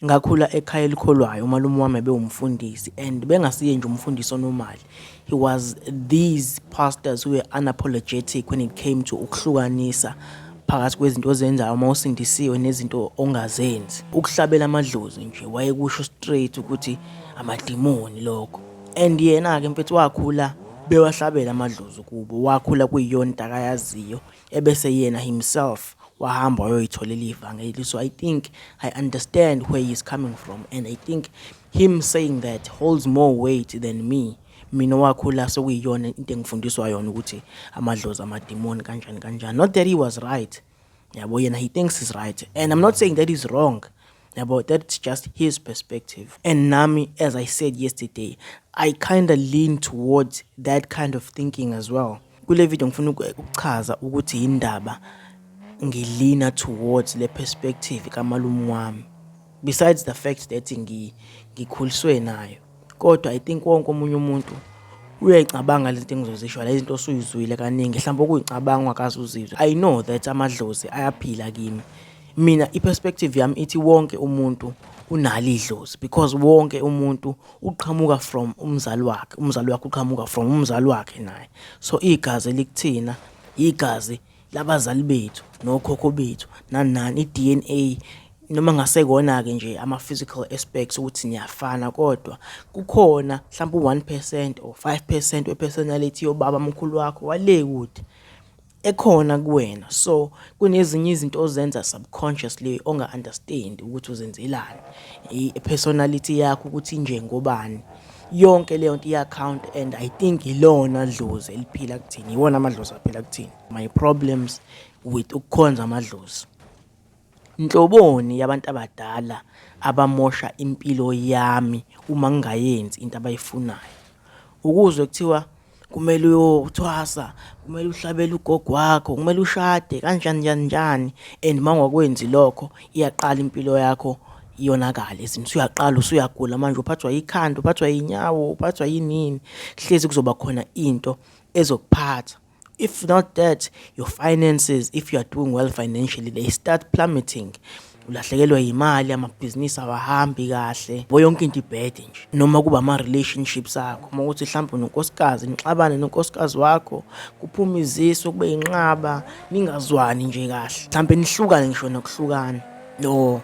Ngakhula ekhaya elikholwayo umalume wami ebewumfundisi and bengasiye nje umfundisi onomali he was these pastors who were unapologetic when it came to ukuhlukanisa phakathi kwezinto ozenzayo uma usindisiwe nezinto ongazenzi ukuhlabela amadlozi nje wayekusho straight ukuthi amadimoni lokho and yena-ke mfethu wakhula bewahlabela amadlozi kubo wakhula kuyiyona into akayaziyo ebese yena himself wahamba wayoyitholela ivangeli so i think i understand where he's coming from and i think him saying that holds more weight than me mina wakhula sokuyiyona into engifundiswa yona ukuthi amadlozi amadimoni kanjani kanjani not that he was right yabo yena he thinks he's right and i'm not saying that he's wrong yabo that's just his perspective and nami as i said yesterday i kind of lean towards that kind of thinking as well kule video ngifuna ukuchaza ukuthi yindaba ngilina towards le perspective kamalume wami besides the fact that ngikhuliswe nayo kodwa i think wonke omunye umuntu uyayicabanga lento engizozisho la izinto osuyizwile kaningi mhlawumbe okuyicabanga ungakaze uzizwe i know that amadlozi ayaphila kimi mina i-perspective yami ithi wonke umuntu unalo idlozi because wonke umuntu uqhamuka from umzali wakhe umzali wakhe uqhamuka from umzali wakhe naye so igazi elikuthina igazi labazali bethu nokhokho bethu nani nani i-DNA noma ngasekona-ke nje ama-physical aspects ukuthi niyafana kodwa kukhona mhlawumbe u-one percent or five percent we-personality yobaba mkhulu wakho wale kude ekhona kuwena so kunezinye izinto ozenza subconsciously onga-understand ukuthi uzenzelani i-personality yakho ukuthi injengobani yonke leyo nto i-account and i think ilona dlozi eliphila kuthini iwona amadlozi aphila kuthini my problems with ukukhonza amadlozi nhloboni yabantu abadala abamosha impilo yami uma ngingayenzi into abayifunayo ukuzwe kuthiwa kumele uyothwasa kumele uhlabele ugogo wakho kumele ushade kanjani njani njani and uma ungakwenzi lokho iyaqala impilo yakho iyonakala ezinto usuyaqala usuyagula manje uphathwa yikhanda uphathwa yinyawo uphathwa yinini hlezi kuzoba khona into ezokuphatha if not that your finances if you are doing well financially they start plummeting ulahlekelwa yimali amabhizinisi awahambi kahle bo yonke into ibhede nje noma kuba ama-relationships akho uma ukuthi mhlawumbe nonkosikazi nixabane nonkosikazi wakho kuphume iziso kube yinqaba ningazwani nje kahle mhlawumbe nihlukane ngisho nokuhlukana no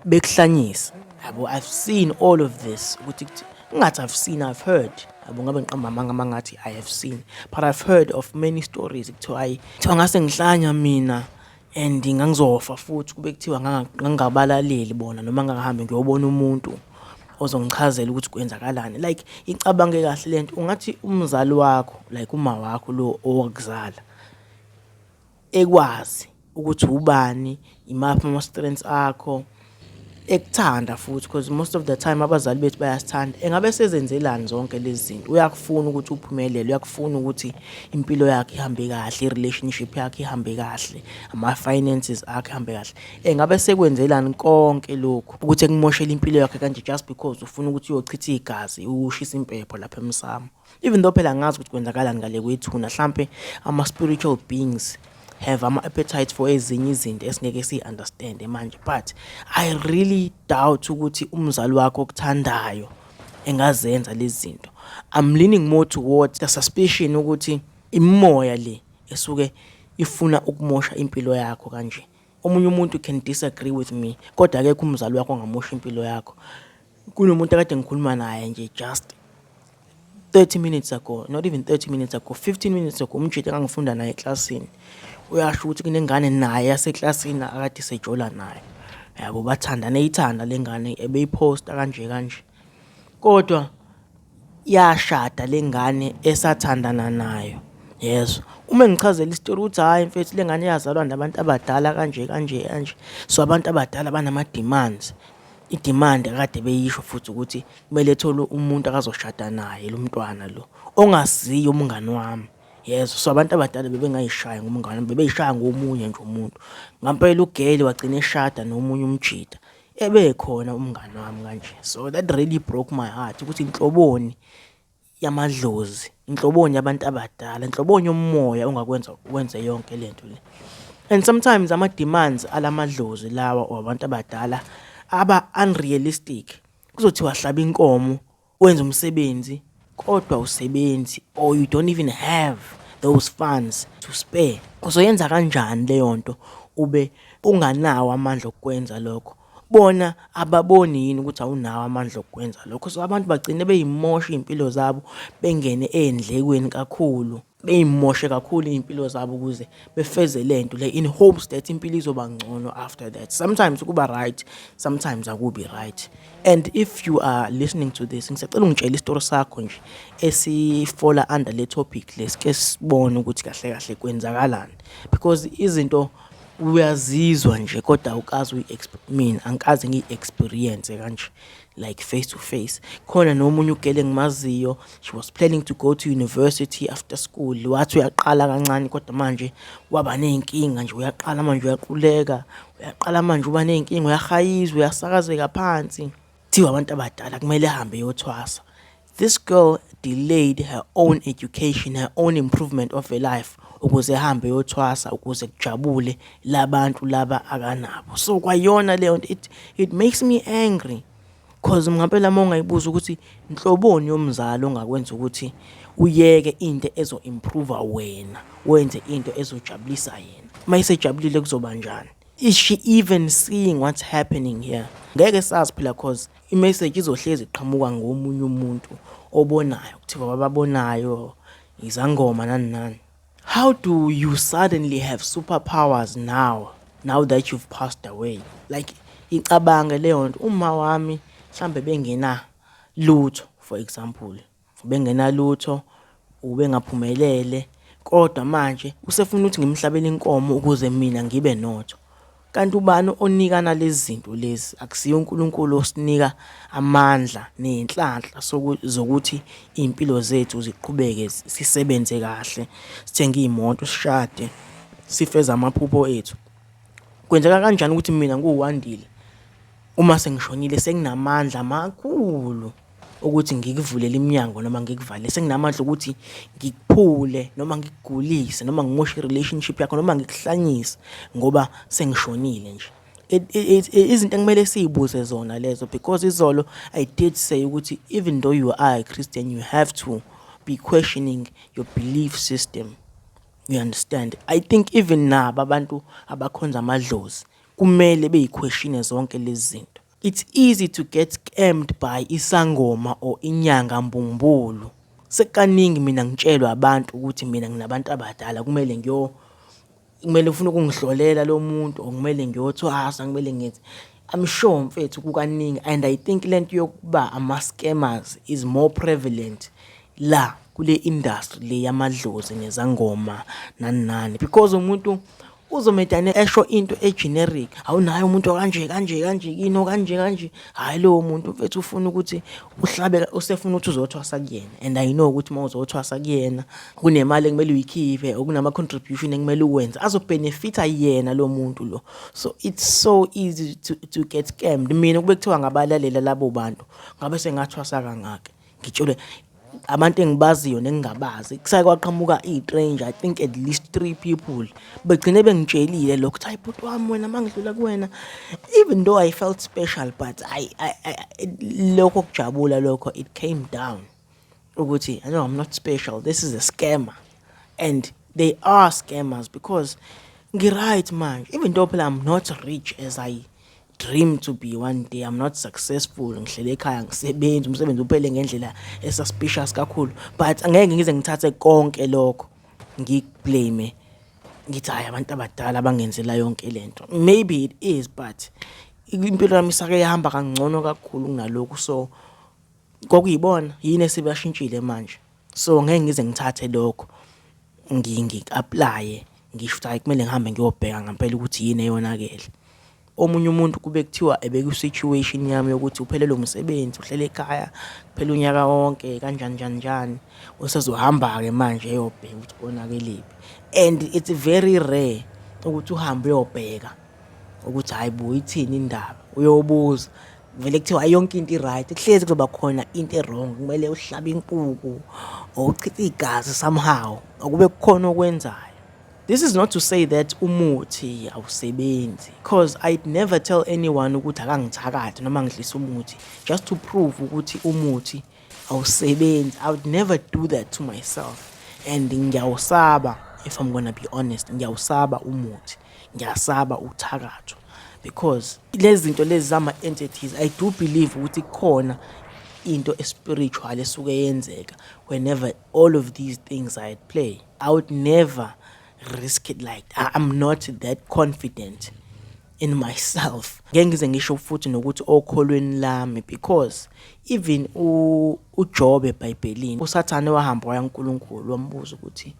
bekuhlanyisa yabo i've seen all of this ukuthi ngathi i've seen i've heard yabo ngabe ngiqamba amanga mangathi i have seen but i've heard of many stories kuthiwa ayi kuthiwa ngase ngihlanya mina and ngangizofa futhi kube kuthiwa ngangingabalaleli bona noma ngangahambi ngiyobona umuntu ozongichazela ukuthi kwenzakalani like icabange kahle lento ungathi umzali wakho like uma wakho lo owakuzala ekwazi ukuthi ubani imaphi ama-strengths akho ekuthanda futhi because most of the time abazali bethu bayasithanda engabe sezenzelani zonke lezi zinto uyakufuna ukuthi uphumelele uyakufuna ukuthi impilo yakhe ihambe kahle i-relationship yakhe ihambe kahle ama-finances akhe ihambe kahle engabe sekwenzelani konke lokhu ukuthi ekumoshele impilo yakhe kanje just because ufuna ukuthi uyochitha igazi ushisa impepho lapha emsamo even though phela angazi ukuthi kwenzakalani ngale kwethuna hlampe ama spiritual beings have ama appetite for ezinye izinto esingeke si understand manje but i really doubt ukuthi umzali wakho okuthandayo engazenza lezi zinto i'm leaning more towards the suspicion ukuthi imoya le esuke ifuna ukumosha impilo yakho kanje omunye umuntu can disagree with me kodwa akekho umzali wakho ongamosha impilo yakho Kunomuntu akade ngikhuluma naye nje just 30 minutes ago not even 30 minutes ago 15 minutes ago umjita engangifunda naye eklasini uyasho ukuthi kunengane naye yaseklasini akade sejola naye yabo bathandane ithanda lengane ebeyiphosta kanje kanje kodwa yashada lengane esathandana nayo yezwa uma engichazela isitori ukuthi hhayi mfethu le ngane yazalwa nabantu abadala kanje kanje kanje so abantu abadala banama-demands i-demand kade beyisho futhi ukuthi kumele ethole umuntu akazoshada naye lo mntwana lo ongaziyo umngani wami yezwa so abantu abadala bebengayishaya ngomngane bebeyishaya ngomunye nje umuntu ngampela ugeli wagcina eshada nomunye umjida ebekhona umngane wami kanje so that really broke my heart ukuthi inhloboni yamadlozi inhloboni yabantu abadala inhloboni yomoya ongakwenza ukwenze yonke lento le and sometimes ama demands alamadlozi lawa wabantu abadala aba unrealistic kuzothiwa hlaba inkomo wenza umsebenzi kodwa usebenzi or you don't even have those funds to spare uzoyenza kanjani leyo nto ube unganawo amandla okwenza lokho bona ababoni yini ukuthi awunawo amandla okwenza lokho so abantu bagcine beyimosha iy'mpilo zabo bengene ey'ndlekweni kakhulu beyimoshe kakhulu iy'mpilo zabo ukuze befeze le nto le in hopes that impilo izoba ngcono after that sometimes kuba right sometimes akubi right and if you are listening to this ngisacela ungitshela isitori sakho nje esifola under le topic lesike sibone ukuthi kahle kahle kwenzakalani because izinto uyazizwa nje kodwa awukazi uyi-exp mina angikaze ngiyi-experience kanje like face to face khona nomunye ugele ngimaziyo she was planning to go to university after school wathi uyaqala kancane kodwa manje waba ney'nkinga nje uyaqala manje uyaquleka uyaqala manje uba ney'nkinga uyahayizwa uyasakazeka phansi kuthiwa abantu abadala kumele ahambe eyothwasa This girl delayed her own education, her own improvement of her life ukuze ehambe yothwasa ukuze kujabule labantu laba akanabo. So kwayona leyo nto it, it makes me angry cause mngempela uma ungayibuza ukuthi nhloboni yomzali ongakwenza ukuthi uyeke into ezo-improve wena wenze into ezojabulisa yena uma isejabulile kuzoba njani is she even seeing what's happening here ngeke sazi phela cause imeseji izohlezi iqhamuka ngomunye umuntu obonayo kuthiwa bababonayo izangoma nani nani how do you suddenly have superpowers now now that you've passed away like icabange leyo nto uma wami mhlambe bengena lutho for example Ubengenalutho, ubengaphumelele, kodwa manje usefuna ukuthi ngimhlabele inkomo ukuze mina ngibe notho. Kanti ubani onikana lezi zinto lezi? Akusiye uNkulunkulu osinika amandla nenhlanhla zokuthi iy'mpilo zethu ziqhubeke sisebenze kahle, sithenge iy'moto, sishade, sifeze amaphupho ethu. Kwenzeka kanjani ukuthi mina nguWandile uma sengishonile senginamandla amakhulu? ukuthi ngikuvulele iminyango noma ngikuvalele senginamandla ukuthi ngikuphule noma ngikugulise noma ngimoshe i-relationship yakho noma ngikuhlanyise ngoba sengishonile nje izinto ekumele siyibuze zona lezo because izolo i did say ukuthi even though you are a christian you have to be questioning your belief system you understand i think even nabo abantu abakhonza amadlozi kumele beyiquestione zonke lezi zinto It's easy to get scammed by isangoma or inyanga mbumbulu. Sekukaningi mina ngitshelwa abantu ukuthi mina nginabantu abadala kumele ngiyo kumele ufuna ukungihlolela lo muntu or kumele ngiyothwasa kumele ngenze I'm sure mfethu kukaningi and I think lento yokuba ama scammers is more prevalent la kule industry le yamadlozi nezangoma nani nani because umuntu uzomedane esho into egeneric hawu naye umuntu okanje kanje kanje yini okanje kanje hhayi lowo muntu mfethu ufuna ukuthi uhlabe usefuna ukuthi uzothwasa kuyena and i know ukuthi uma uzothwasa kuyena kunemali ekumele uyikhiphe okunama-contribution ekumele uwenze azobhenefitha yena lo muntu lo so it's so easy to, to get scammed mina kube kuthiwa ngabalalela labo bantu ngabe sengathwasa kangaka ngitshele abantu engibaziyo nengingabazi kusake kwaqhamuka i-strange i think at least three people begcine bengitshelile lokho ukuthi hayi bhuti wami wena uma ngidlula kuwena even though i felt special but I, I, I, lokho kujabula lokho it came down ukuthi i know i'm not special this is a scammer and they are scammers because ngiright manje even though phela i'm not rich as i dream to be one day i'm not successful ngihlele ekhaya ngisebenzi umsebenzi uphele ngendlela esuspicious kakhulu but angeke ngize ngithathe konke lokho ngikublame ngithi hayi abantu abadala abangenzela yonke lento maybe it is but impilo yami isake yahamba kangcono kakhulu kunalokhu so kokuyibona yini esebashintshile manje So ngeke ngize ngithathe lokho ngi-aplaye ngisho ukuthi hhayi kumele ngihambe ngiyobheka ngempela ukuthi yini eyonakele. Omunye umuntu kube kuthiwa ebeku-situation yami yokuthi uphelelwe umsebenzi, uhleli ekhaya kuphela unyaka wonke kanjani njani njani. Usezohamba-ke manje eyobheka ukuthi konakelephi and it's very rare ukuthi uhambe uyobheka. ukuthi hayi bo ithini indaba uyobuza vele kuthiwa yonke into i-right kuhlezi kuzoba khona into e-wrong kumele uhlabe inkuku or uchithe igazi somehow okube kukhona okwenzayo this is not to say that umuthi awusebenzi because i'd never tell anyone ukuthi akangithakathi noma ngidlisa umuthi just to prove ukuthi umuthi awusebenzi i would never do that to myself and ngiyawusaba if i'm gonna be honest ngiyawusaba umuthi ngiyasaba ukuthakathwa because lezi zinto lezi zama-entities i do believe ukuthi kukhona into espiritual esuke yenzeka whenever all of these things are at play i would never risk it like that. i'm not that confident in myself ngeke ngize ngisho futhi nokuthi okholweni lami because even uJobe eBhayibhelini uSathane wahamba waya kuNkulunkulu wambuza ukuthi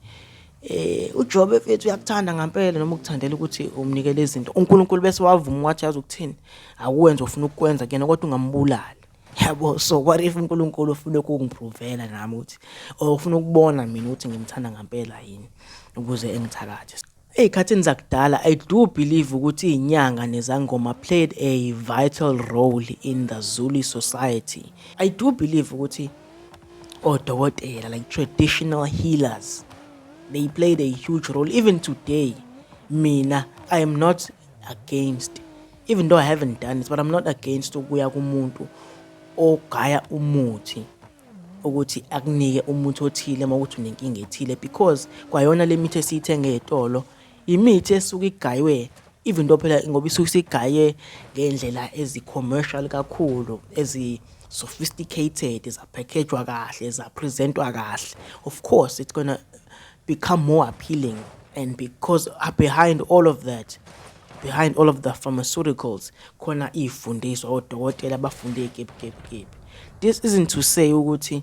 Eh uJobe mfethu uyakuthanda ngempela noma ukuthandela ukuthi umnikele izinto. UNkulunkulu bese wavuma wathi yazi ukuthini? Akuwenza ufuna ukukwenza kuyena kodwa ungambulali. Yabo so what if uNkulunkulu ufuna ukungiprovela nami ukuthi or ufuna ukubona mina ukuthi ngimthanda ngempela yini ukuze engithakathe. Ezikhathini zakudala I do believe ukuthi inyanga nezangoma played a vital role in the Zulu society. I do believe ukuthi odokotela like traditional healers they played a huge role even today mina i am not against even though i haven't done it but i'm not against ukuya kumuntu ogaya umuthi ukuthi akunike umuthi othile uma ukuthi unenkinga ethile because kwayona le mithi esiyithenge etolo Imithi esuke igaywe even though phela ngoba isuke isigaye ngendlela ezi-commercial kakhulu ezi sophisticated zaphackejwa kahle zapresentwa kahle of course it's gonna become more appealing and because uh, behind all of that behind all of the pharmaceuticals khona iy'fundiswa odokotela abafunde igebhugebhugebhu this isn't to say ukuthi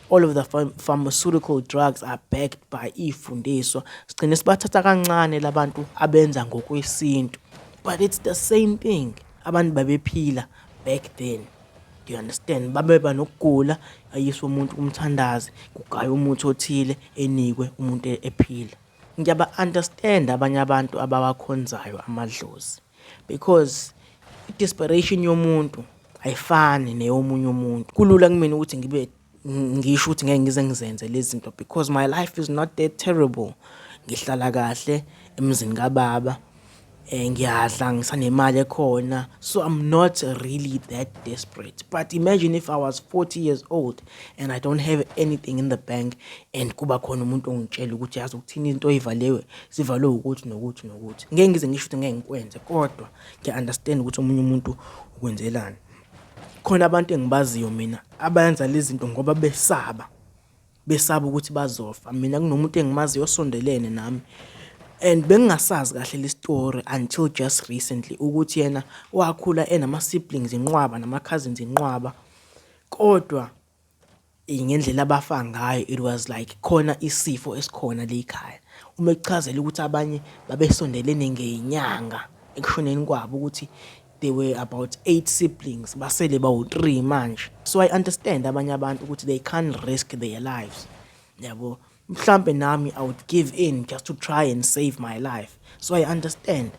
all of the pharmaceutical drugs are backed by iy'fundiswa sigcine sibathatha kancane labantu abenza ngokwesintu but it's the same thing abantu babephila back then you understand babeba nokugula ayiswe umuntu kumthandazi kugaya umuthi othile enikwe umuntu ephila ngiyaba understand abanye abantu abawakhonzayo amadlozi because i-desperation yomuntu ayifani neyomunye umuntu kulula kumina ukuthi ngibe ngisho ukuthi ngeke ngize ngizenze lezi zinto because my life is not that terrible ngihlala kahle emzini kababa eh ngiyadla ngisanemali ekhona so i'm not really that desperate but imagine if i was 40 years old and i don't have anything in the bank and kuba khona umuntu ongitshela ukuthi yazi ukuthini into oyivalewe sivalwe ukuthi nokuthi nokuthi ngeke ngize ngisho ukuthi ngeke ngikwenze kodwa ngiya-understand ukuthi omunye umuntu ukwenzelani khona abantu engibaziyo mina abayenza lezi zinto ngoba besaba besaba ukuthi bazofa mina kunomuntu engimaziyo osondelene nami and bengingasazi kahle le story until just recently ukuthi yena wakhula enama-siblings inqwaba nama-cousins inqwaba kodwa eh, ngendlela abafa ngayo it was like khona isifo esikhona leyikhaya uma ekuchazela ukuthi abanye babesondelene ngenyanga ekushoneni kwabo ukuthi they were about eight siblings basele bawu-three manje so i understand abanye abantu ukuthi they can't risk their lives yabo mhlambe nami i would give in just to try and save my life so i understand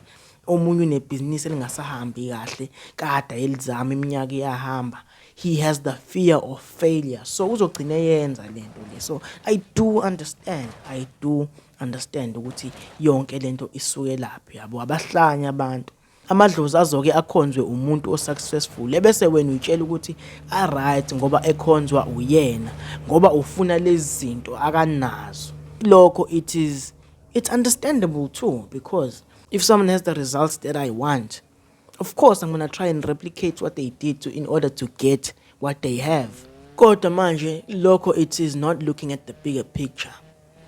omunye unebhizinisi elingasahambi kahle kada elizama iminyaka iyahamba he has the fear of failure so uzogcina yenza lento le so i do understand i do understand ukuthi yonke lento isuke laphi yabo abahlanya abantu amadlozi azoke akhonzwe umuntu osuccessful ebese wena uyitshela ukuthi aright ngoba ekhonzwa uyena ngoba ufuna lezi zinto akanazo lokho it is it's understandable too because if someone has the results that i want of course i'm going to try and replicate what they did to in order to get what they have kodwa manje lokho it is not looking at the bigger picture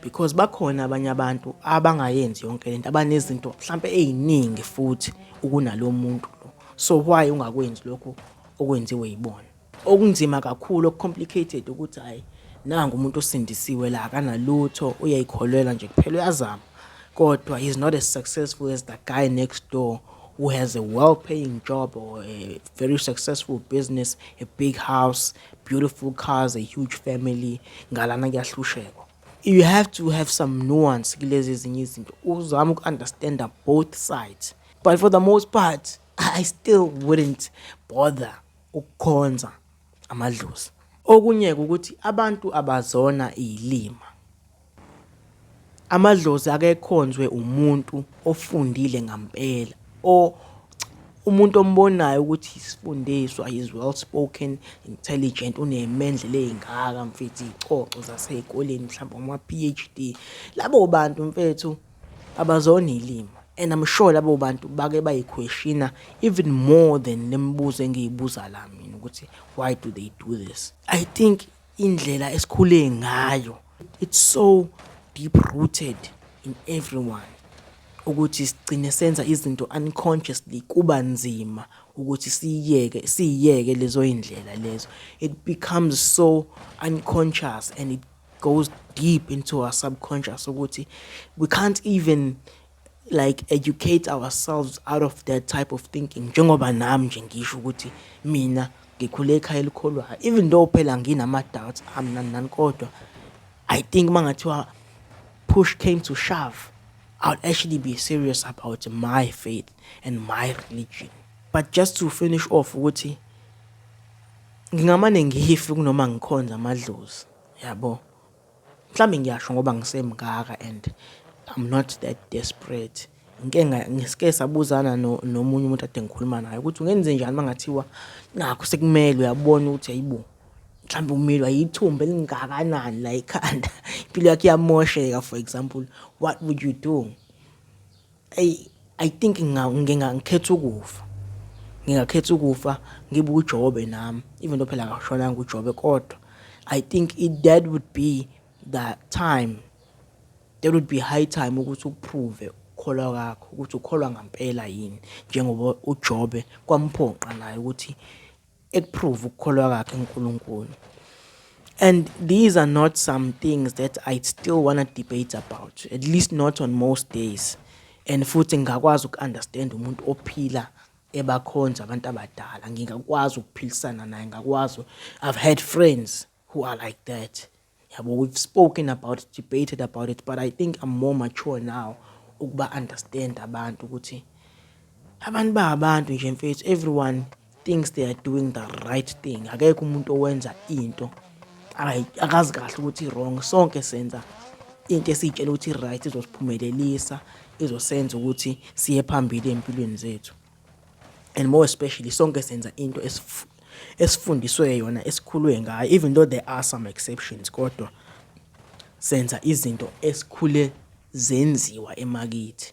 because bakhona abanye abantu abangayenzi yonke lento abanezinto mhlambe eziningi futhi ukunalo muntu lo so why ungakwenzi lokho okwenziwe yibona okunzima kakhulu okucomplicated ukuthi hayi nangu umuntu osindisiwe la akanalutho uyayikholelwa nje kuphela uyazama kodwa he's not as successful as the guy next door who has a well paying job or a very successful business a big house beautiful cars a huge family ngalana kuyahlushekwa you have to have some nuance kulezi ezinye izinto uzama uku-understanda both sides but for the most part i still wouldn't bother ukukhonza amadlozi okunye ukuthi abantu abazona iyilima Amadlozi akekhonzwe umuntu ofundile ngampela o umuntu ombonayo ukuthi isifundiswa is well spoken intelligent unemendlela ezingaka mfethu icoco zasezikoleni mhlawumbe uma PhD labo bantu mfethu abazona ilimi and I'm sure labo bantu bake bayiquestiona even more than lemibuzo engiyibuza la mina ukuthi why do they do this i think indlela esikhule ngayo it's so deep rooted in everyone ukuthi sigcine senza izinto unconsciously kuba nzima ukuthi siyiyeke siyiyeke lezo indlela lezo it becomes so unconscious and it goes deep into our subconscious ukuthi we can't even like educate ourselves out of that type of thinking njengoba nami nje ngisho ukuthi mina ngikhule ekhaya elikholwayo even though phela nginama-doubts ami nani nani kodwa i think uma ngathiwa push came to shove i would actually be serious about my faith and my religion but just to finish off ukuthi ngingamane ngihife kunoma ngikhonza amadlozi yabo mhlawumbe ngiyasho ngoba ngisemngaka and I'm not that desperate ngike ngisike sabuzana nomunye umuntu ade ngikhuluma naye ukuthi ungenze njani mangathiwa nakho sekumele uyabona ukuthi ayibo mhlawumbe umilwa yithumba elingakanani la ekhanda impilo yakhe iyamosheka for example what would you do eyi i think ngingangikhetha ukufa ngingakhetha ukufa ngibe ujobe nami even though phela akashonanga ujobe kodwa i think it, that would be the time there would be high time ukuthi uprove ukukholwa kwakho ukuthi ukholwa ngampela yini njengoba uJobe kwamphoqa naye ukuthi ekuprove ukukholwa kwakhe kuNkulunkulu and these are not some things that I still want to debate about at least not on most days and futhi ngingakwazi uku-understand umuntu ophila ebakhonza abantu abadala ngingakwazi ukuphilisana naye ngakwazi i've had friends who are like that yabo we've spoken about it debated about it but i think i'm more mature now ukuba understand abantu ukuthi abantu ba abantu nje mfethu everyone thinks they are doing the right thing akekho umuntu owenza into akazi kahle ukuthi wrong sonke senza into esiyitshela ukuthi right izosiphumelelisa izosenza ukuthi siye phambili empilweni zethu and more especially sonke senza into esifundiswe yona esikhulwe ngayo even though there are some exceptions kodwa senza izinto esikhule zenziwa emakithi